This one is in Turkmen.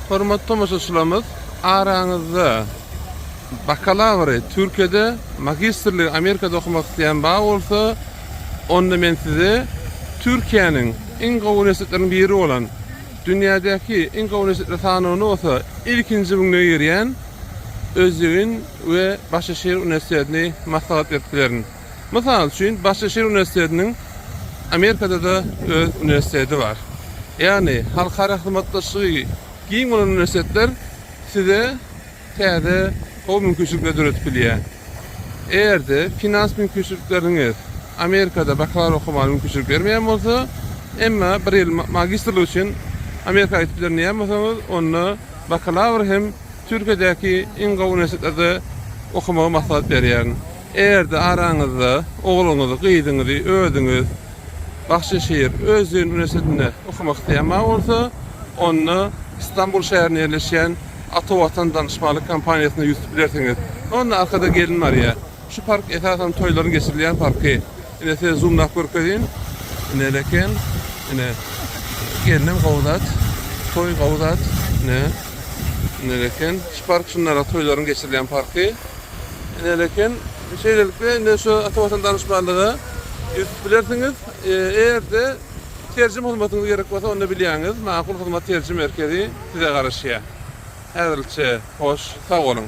Hormatly tomaşaçylarymyz, araňyzda bakalawry Türkiýede, magistrligi Amerikada okamak isleýän bar bolsa, onda men size Türkiýäniň iň gowy uniwersitetleriniň biri bolan, dünýädäki iň gowy uniwersitetler sanawyna bolsa ilkinji müňlüge girýän Özýegin we Başaşehir uniwersitetini maslahat berip bilerin. Mysal üçin, Başaşir uniwersitetiniň Amerikada-da öz uniwersiteti bar. Ýagny, halkara hyzmatdaşlygy giň bolan uniwersitetler size täze gowy mümkinçilikleri döredip bilýär. Eger-de finans mümkinçilikleriňiz Amerikada bakalawr okamaga mümkinçilik bermeýän bolsa, emma bir ýyl magistrlyk üçin Amerika gidip bilerin diýýän bolsaňyz, onda bakalawr hem Türkiýedäki iň gowy uniwersitetlerde okamagy maslahat berýärin. Ärde araňyzda ogluňyzy, gyzyňyzy özüňiz Bahçeşehir öz düýn uniwersitetinde okamak isleýän mawy bolsa, onda Stambul şäherinde ýerleşýän Ata Watan danyşmaklyk kompaniýasyna ýüz tutup bilersiňiz. Onda arkada gelin barýar. Şu park esasan toýlaryň geçirilýän parky. Ine size zumlap görkezýin. Ine ele eken. Ine. Gelinem gowy zat. Toý gowy zat. Ine. Ine ele eken. Şu park şunlara toýlaryň geçirilýän parky. Näme eken? Şeýlelikde, indi şu Ata Watan Danışmanlyga ýüztüp bilersiňiz. Eger-de terjime hyzmatyňyz gerek bolsa, onda bilýäňiz, Makul Hyzmat Terjime Merkezi size garaşýar. Häzirlikçe hoş, sag boluň!